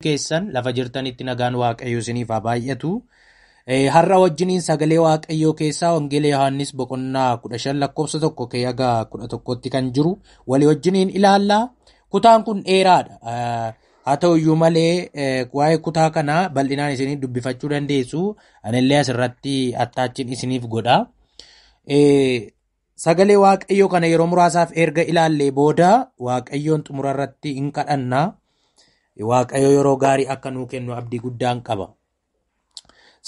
keessan lafa jirtanitti nagaan waaqayyoo isiniif haa baay'atu. Har'a wajjiniin sagalee waaqayyoo keessaa Wangeela Yohaannis boqonnaa 15 lakkoofsa 1 kee haga 11tti kan jiru walii wajjiniin ilaalla. Kutaan kun dheeraadha. Haa ta'u iyyuu malee waa'ee kutaa kanaa bal'inaan isiniif dubbifachuu dandeessu. Anillee asirratti attaachiin isiniif godha. Sagalee Waaqayyoo kana yeroo muraasaaf erga ilaallee booda Waaqayyoon xumura irratti hin kadhanna. Waaqayyo yeroo gaarii akka nuu kennu abdii guddaan qaba.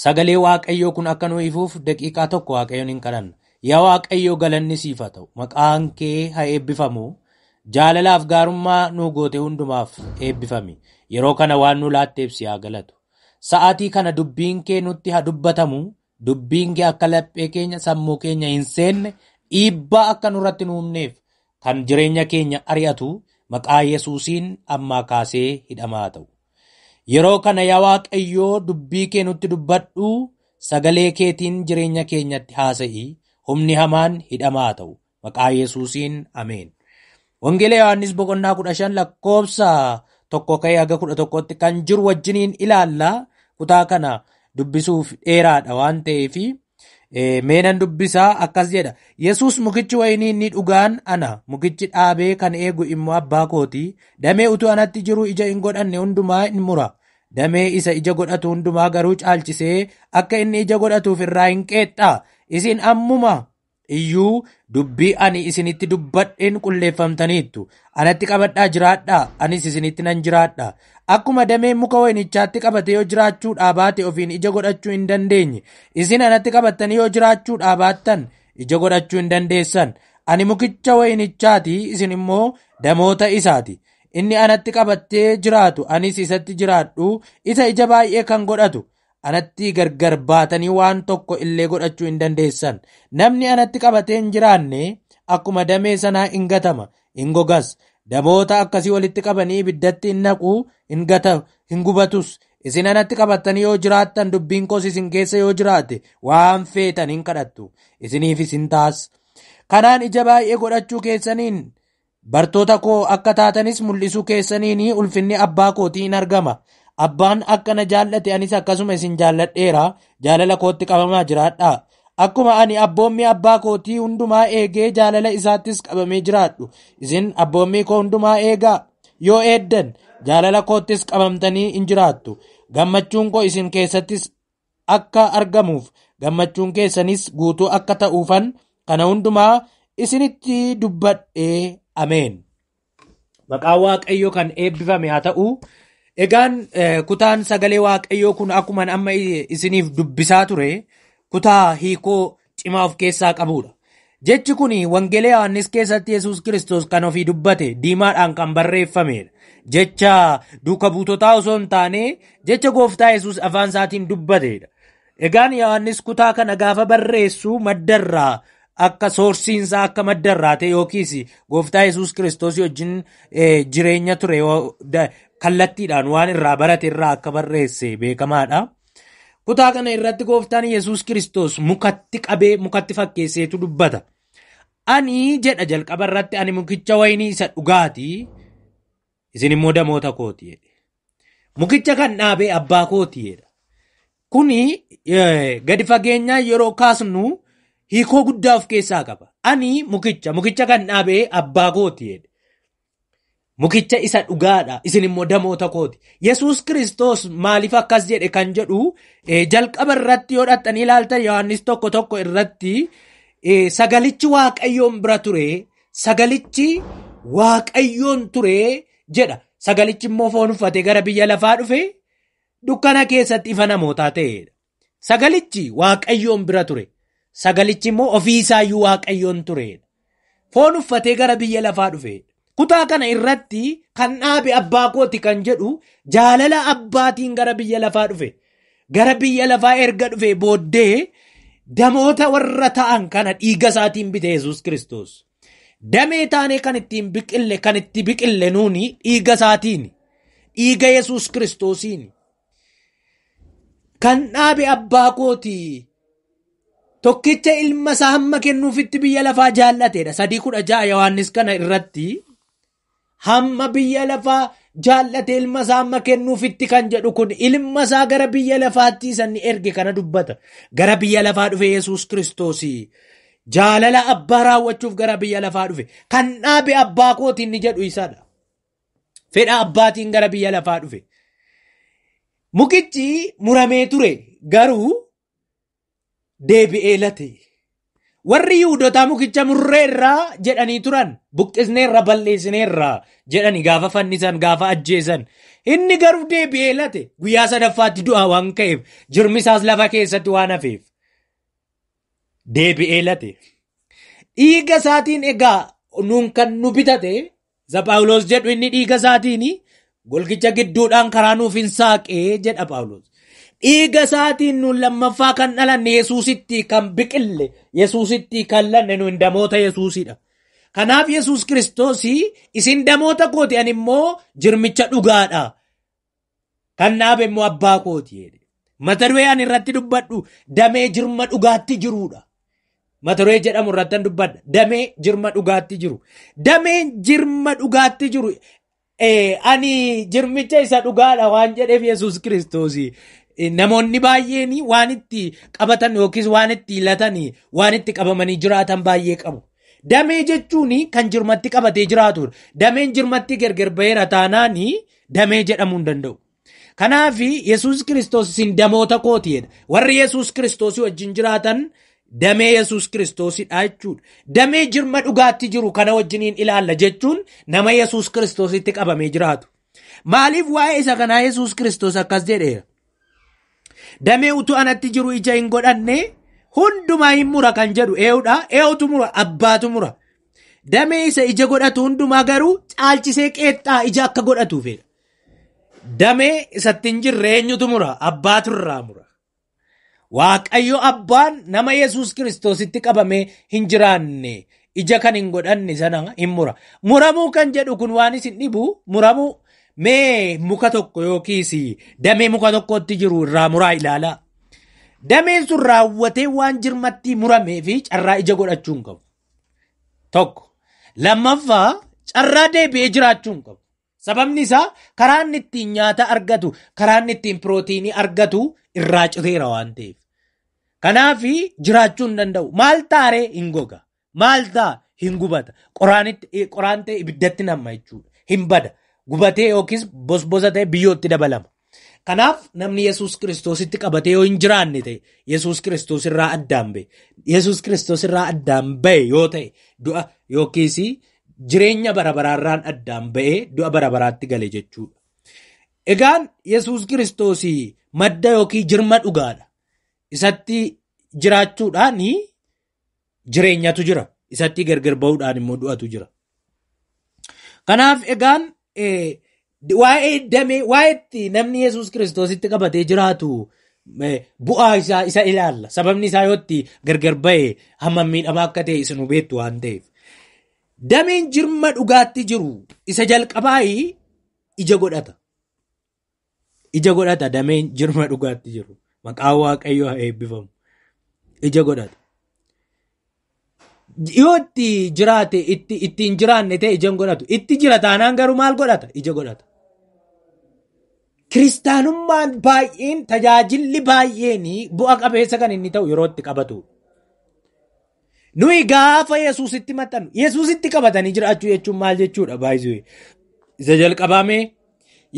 Sagalee Waaqayyoo kun akka nuu ifuuf daqiiqaa tokko Waaqayyoon hin kadhanna. Yaa Waaqayyoo galanni siif haa ta'u. Maqaan kee haa eebbifamu. Jaalalaaf gaarummaa nuu goote hundumaaf eebbifami. Yeroo kana waan nuu laatteef si haa galatu. Sa'aatii kana dubbiin kee nutti haa dubbatamu. Dubbiin kee akka laphee keenya sammuu keenya hin seenne dhiibbaa akka nurratti nu humneef kan jireenya keenya ari'atu maqaa Yesuusiin ammaa kaasee hidhamaa ta'u. Yeroo kana yaa Waaqayyoo dubbii kee nutti dubbadhu sagalee keetiin jireenya keenyatti haasa'i humni hamaan hidhamaa ta'u Maqaa Yesuusiin Ameen. Wangeela Yohaannis boqonnaa 15 lakkoofsa tokko ka'ee haga 11tti kan jiru wajjiniin ilaalla. Kutaa kana dubbisuuf dheeraadha waan ta'eef meenan dubbisaa akkas jedha. Yesuus mukichi wayinii inni dhugaan ana mukichi dhaabee kan eegu immoo abbaa kooti. Damee utuu anatti jiru ija hin godhanne hundumaa in mura. Damee isa ija godhatu hundumaa garuu caalchisee akka inni ija godhatuuf irraa hin qeexxa. Isin ammuma iyyuu dubbii ani isinitti dubbadheen qulleeffamtaniittu. Anatti qabadhaa jiraadhaa, anis isinitti nan jiraadha. Akkuma dameen muka wayinichaatti qabate yoo jiraachuudhaa baate ofiin ija godhachuu hin dandeenye, isin anatti qabattanii yoo jiraachuudhaa baattan ija godhachuu hin dandeessan. Ani mukicha wayinichaati, isin immoo damoota isaati. Inni anatti qabattee jiraatu, anis isatti jiraadhu, isa ija baay'ee kan godhatu, Anatti gargar baatanii waan tokko illee godhachuu hin dandeessan. Namni anatti qabatee hin jiraanne akkuma damee sanaa in gatama, in gogas. Daboota akkasii walitti qabanii ibiddatti in naqu, in gata, hin gubatus. Isin anatti qabattanii yoo jiraattan dubbiin koos isin keessa yoo jiraate waan feetan hin kadhattu. Isiniifis hin taas. Kanaan ija baay'ee godhachuu keessaniin Bartoota koo akka taatanis mul'isuu keessaniin ulfinni abbaa kootii in argama. Abbaan akka na jaallate anis akkasuma isin jaalladheera. Jaalala kootti qabamaa jiraadhaa. Akkuma ani abboommii abbaa kootii hundumaa eegee jaalala isaattis qabamee jiraadhu. Isin abboommii koo hundumaa eegaa. Yoo eeddan jaalala koottis qabamtanii in jiraattu. Gammachuun koo isin keessattis akka argamuuf gammachuun keessanis guutuu akka ta'uufan kana hundumaa isinitti dubbadhee ameen. Maqaa Waaqayyoo kan eebbifame haa ta'u. Egaan kutaan sagalee Waaqayyoo kun akkuma amma isiniif dubbisaa ture kutaa hiikoo cimaa of keessaa qabuudha. Jechi kun Wangeela Yohaannis keessatti Yesuus Kiristoos kan ofii dubbate diimaadhaan kan barreeffameedha. Jecha duuka buutotaa osoo hin taane jecha gooftaa Yesuus afaan isaatiin dubbateedha. Egaan Yohaannis kutaa kana gaafa barreessu maddarraa akka soorsiinsaa akka maddarraa ta'e yookiis gooftaa Yesuus Kiristoos wajjin jireenya ture kallattiidhaan waan irraa barate irraa akka barreesse beekamaadha. Kutaa kana irratti gooftaan Yesuus Kiristoos mukatti qabee mukatti fakkeesseetu dubbata. Ani jedha jalqaba irratti ani mukicha wayinii isa dhugaati isin immoo damoota kooti jedhe. Mukicha kan dhaabee abbaa kooti jedha. Kuni eh, gadi fageenyaa yeroo kaasnu hiikoo guddaa of keessaa qaba. Ani mukicha mukicha kan dhaabee abbaa kooti jedhe. Mukicha isa dhugaadha, isin immoo damoota kooti. Yesuus Kiristoos maaliif akkas jedhe kan jedhu eh, jalqaba irratti yoo dhattanii ilaaltan Yohaannis tokko tokko irratti eh, sagalichi Waaqayyoon bira ture, sagalichi Waaqayyoon ture jedha. Sagalichi immoo foon uffatee gara biyya lafaa dhufe dukkana keessatti ifa namootaa ta'edha. Sagalichi Waaqayyoon bira ture. Sagalichi immoo ofii isaayyuu Waaqayyoon tureedha. Foon uffatee gara biyya lafaa dhufeedha. Kutaa kana irratti kan dhaabe abbaa kooti kan jedhu jaalala abbaatiin gara biyya lafaa dhufe. Gara biyya lafaa erga dhufee booddee damoota warra ta'an kana dhiiga isaatiin bite Yesuus Kiristoos. Damee taanee kan ittiin biqille kan itti biqille nuuni dhiiga isaatiin. Dhiiga Yesuus Kiristoosiin. kan dhaabe abbaa kooti tokkicha ilma isaa hamma kennuufitti biyya lafaa jaal'ateedha sadii kudha ja'a yohaannis kana irratti hamma biyya lafaa jaal'ate ilma isaa hamma kennuufitti kan jedhu kun ilma isaa gara biyya lafaatti isanni erge kana dubbata gara biyya lafaa dhufe yesus kiristoos jaalala abbaa raawwachuuf gara biyya lafaa dhufe kan dhaabe abbaa kooti inni jedhu isadha Fedha abbaatiin gara biyya lafaa dhufe. Mukichi muramee ture garuu deebi'ee late. Warri Yihudotaa mukicha murreerraa jedhanii turan buqqisneerra balleessineerra jedhani gaafa fannisan gaafa ajjeesan. Inni garuu deebi'ee late guyyaa sadaffaatti du'aa waan ka'eef jirmisaas lafa keessatti waan hafeef. Deebi'ee late. Dhiiga isaatiin egaa nuun kan nu bitate Isa Phaawulos jedhu inni dhiiga isaatiin golgicha gidduudhaan karaa nuuf hin saaqee jedha Phaawulos. Dhiiga isaatiin nuun lammaffaa kan dhalanne Yesuusitti kan biqille Yesuusitti kan lanne nuun damoota Yesuusidha. Kanaaf Yesuus Kiristoos isin damoota kooti ani immoo jirmicha dhugaadha. Kan dhaabe immoo abbaa kooti jedhe. Mata duree ani irratti dubbadhu damee jirma dhugaatti jiruudha. Mata duree jedhamu irratti an dubbadha. Damee jirma dhugaatti jiru. Dameen jirma dhugaatti jiru. Eh, ani jirmicha isa dhugaadha waan jedheef Yesuus Kiristoos eh, namoonni baay'een waan itti qabatan yookiis waan itti hilatan waan itti qabamanii jiraatan baay'ee qabu. Damee jechuun kan jirmatti qabatee jiraatudha. Dameen jirmatti gargar baheera taanaanii Damee jedhamuu hin danda'u. Kanaaf Yesuus Kiristoos isin damoota kooti jedha. Warri Yesuus Kiristoosii wajjin jiraatan damee Yesuus Kiristoosidha jechuudha. Damee jirma dhugaatti jiru kana wajjiniin ilaalla jechuun nama Yesuus Kiristoositti qabamee jiraatu. Maaliif waa'ee isa kanaa Yesuus Kiristoos akkas jedheera? Damee utuu anatti jiru ija hin godhanne hundumaa hin mura kan jedhu ee'udha. Ee'utu mura abbaatu mura. Damee isa ija godhatu hundumaa garuu caalchisee qeexxaa ija akka godhatuufidha. Damee isatti hin jirre eenyutu mura abbaatu irraa mura. Waaqayyo abbaan nama Yesuus Kiristoositti qabamee hin jiraanne ija kan hin godhanne sana hin mura. Muramuu kan jedhu kun waan isin dhibu muramuu mee muka tokko yookiis damee muka tokkootti jiru irraa muraa ilaalaa. Dameen sun raawwatee waan jirmattii muramee fi carraa ija godhachuu hin qabu. Tokko. Lammaffaa carraa deebi'ee jiraachuu hin qabu. Sababni isaa karaa inni ittiin nyaata argatu, karaa inni ittiin pirootiinii argatu irraa citeera waan ta'eef. Kanaaf jiraachuu hin danda'u. Maal taaree hin goga. Maal ta'a hin gubata. Qoraanitti qoraan ta'e ibiddatti namma jechuudha. Hin bada. Gubatee yookiis bosbosa ta'e biyyootti dabalama. Kanaaf namni Yesuus Kiristoositti qabatee yoo hin jiraanne ta'e Yesuus Kiristoos irraa addaan ba'e. Yesuus Kiristoos irraa addaan ba'e yoo ta'e du'a yookiis jireenya bara baraarraan addaan ba'ee du'a bara baraatti gale jechuudha. Egaan Yesuus Kiristoos madda yookiin jirma dhugaadha. Isatti jiraachuudhaan jireenyatu jira. Isattii gargar bahuudhaan immoo du'atu jira. Kanaaf egaan waa'ee damee waa'eetti namni Yesuus Kiristoositti qabatee jiraatu bu'aa isaa isa ilaalla. Sababni isaa yoo itti gargar ba'e hammam miidhamaa akka ta'e isin hubeettu waan ta'eef. Dameen jirma dhugaatti jiru isa jalqabaa ija godhata. Ija godhata dameen jirma dhugaatti jiru. Maqaa waaqayyo haa eebbifamu. Ija godhata. Yoo itti jiraate itti itti hin jiraanne ta'e ija hin godhatu. Itti jira taanaan garuu maal godhata? Ija godhata. Kiristaanummaan baay'een tajaajilli baay'een bu'a qabeessa kan inni ta'u yeroo itti qabatu. Nuyi gaafa Yesuusitti maxxanu, Yesuusitti qabatanii jiraachuu jechuun maal jechuudha baay'isuu? Isa jalqabaamee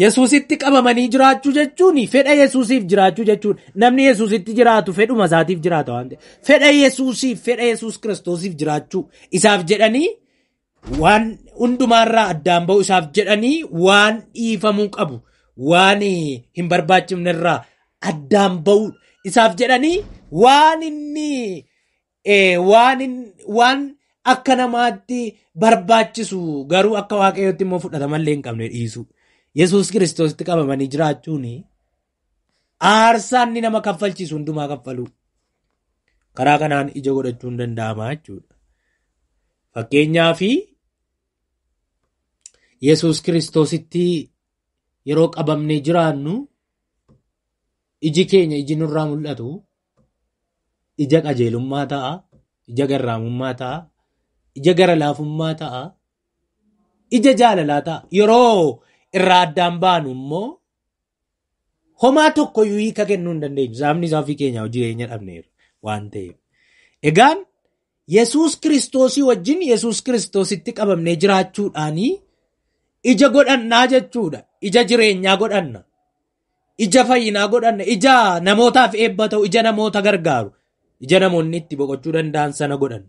Yesuusitti qabamanii jiraachuu jechuun fedha Yesuusiif jiraachuu jechuun namni Yesuusitti jiraatu fedhuma isaatiif jiraata waan ta'eef fedha Yesuusiif fedha Yesuus Kiristoosiif jiraachuu isaaf jedhanii Waan hundumaarraa addaan ba'uu isaaf jedhanii waan dhiifamuu qabu waan hin barbaachifnerraa addaan ba'uu isaaf jedhanii waan inni eh, waan hin- waan akka namaatti barbaachisu garuu akka waaqayyootti immoo fudhatamallee hin qabne dhiisu. Yesuus kiristoositti qabamanii jiraachuun Aarsaan inni nama kaffalchiisu hundumaa kaffaluu. Karaa kanaan ija godhachuun danda'ama jechuudha. Fakkeenyaaf Yesuus Kiristoositti yeroo qabamnee jiraannu iji keenya iji nurraa mul'atu ija qajeelummaa ta'a, ija garraamummaa ta'a, ija gara laafummaa ta'a, ija jaalalaa ta'a. Yeroo irraa addaan baanu immoo Homaa tokko iyyuu hiika kennuu hin dandeenyu. Sababni isaa ofii keenyaa hojii keenya dhabneerra waan ta'eef. Egaan Yesuus Kiristoosii wajjin Yesuus Kiristoositti qabamnee jiraachuudhaanii ija godhannaa jechuudha. Ija jireenyaa godhanna. Ija fayyinaa godhanna. Ija namootaaf eebba ta'u, ija namoota gargaaru. Ija namoonni itti boqochuu danda'an sana godhanna.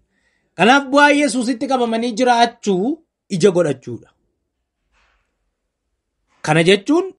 Kanaaf bu'aa Yesuusitti qabamanii jiraachuu ija godhachuudha. Kana jechuun